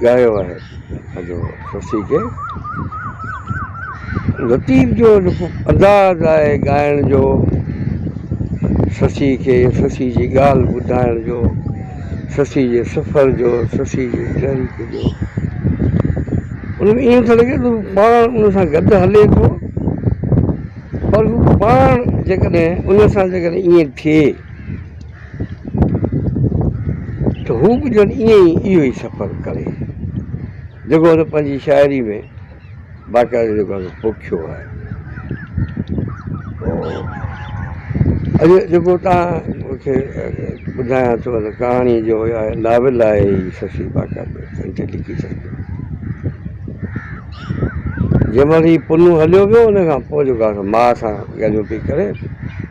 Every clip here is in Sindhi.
ڳايو آهي سڄو سسي کي لطيف جو انداز آهي ڳائڻ جو سسي کي سسي جي ڳالهه ٻڌائڻ جو سسي جي سفر جو سسي جي تحريڪ جو ان ۾ ائين ٿو لڳي ته پاڻ ان سان گڏ هلي ٿو پر هو پاڻ جيڪڏهن ان سان جيڪڏهن ائين ٿئي ته هو به ڄڻ ائين ئي اهو ئي سفر ڪري، جيڪو هن پنهنجي شاعريء ۾ باقاعدي جيڪو آهي سو پوکيو آهي. اڄ جيڪو توهان کي ٻڌايان ٿو ته ڪهاڻي جو يا ناول آهي هي ششي باقاعدي هن تي لکي ڇڏيو. جنهن مهل هي پنو هليو ويو ان کان پوء جيڪو آهي سو ماء سان ڳالهيون پئي ڪري،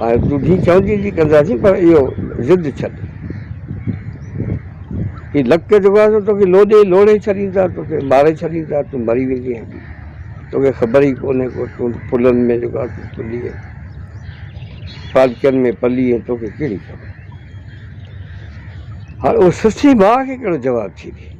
هاڻي تون جي چوندين تي ڪنداسين پر اهو ضد ڇڏ. هي لڪ جيڪو آهي سو توکي لوڏي لوڙهي ڇڏيندا، توکي ماري ڇڏيندا، تون مري ويندين هلي. توکي خبر ئي ڪونهي ڪو تون پلن ۾ جيڪو آهي سو پلي ۽ پالڪين ۾ پلي ۽ توکي ڪهڙي خبر. هاڻي اهو سسئي ماء کي ڪهڙو جواب ٿي ڏي.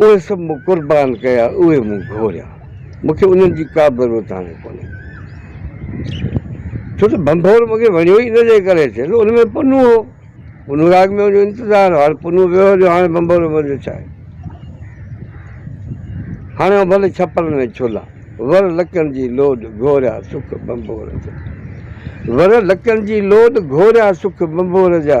اهي سڀ مون قربان ڪيا، اهي مون گهوريا. مون کي انهن جي ڪا به ضرورت هاڻي ڪونهي. ڇو ته ڀنڀور مون کي وڻيو ئي ان جي ڪري ڇي ته ان ۾ پنو هو. پنو راڳ ۾ منهنجو انتظار هو. هاڻي پنو ويو هليو، هاڻي ڀنڀور ۾ منهنجو ڇا آهي؟ هاڻي آئون ڀلي ڇپرن ۾ ڇولا، ور لڪن جي لوڏ گهوريا سک ڀنڀور جا. ور لڪن جي لوڏ گهوريا سک ڀنڀور جا.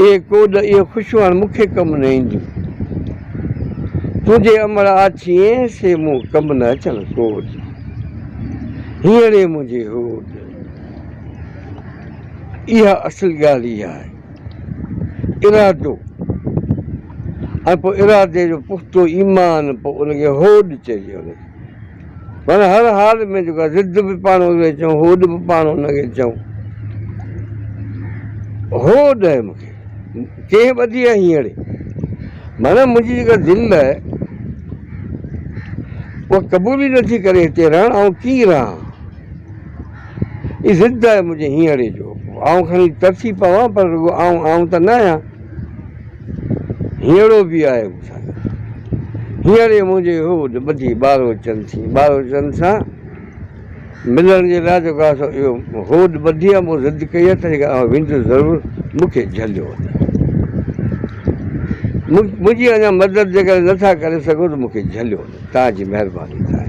اي ڪوڏ اهي خوشيون هاڻ مون کي ڪم نه اينديون تنهنجي امڙ آڇين سي مون ڪم نه اچڻ ڪوڏ هينئڙي منهنجي هوڏ اها اصل ڳالهه ئي آهي ارادو ۽ پوء ارادي جو پختو ايمان پوء ان کي هوڏ چئجي پر هر حال ۾ جيڪا ضد به پاڻ اهي چئون هوڏ به پاڻ ان کي چئون. هو ڏئي مون کي ڪنهن ٻڌي آهي هينئڙي. معنيٰ منهنجي جيڪا دل آهي اها قبول ئي نٿي ڪري هتي رهڻ آئون ڪيئن رهان. هي ضد آهي منهنجي هينئڙي جو آئون کڻي ترسي پوان پر رڳو آئون آئون ته نه آهيان. هينئڙو به آهي مون سان گڏ. هينئري منهنجي هوڏ ٻڌي ٻاروچن ٿي ٻاروچن سان ملڻ جي لاء جيڪو آء سو اهو هوڏ ٻڌي ۽ مون ضد ڪئي آهي تنهن ڪري آئون ويندس ضرور مون کي جهليو وڃو. منهنجي اڃا مدد جيڪڏهن نه ٿا ڪري سگهو ته مون کي جهليو وڃو. توهان جي مهرباني ٿائي.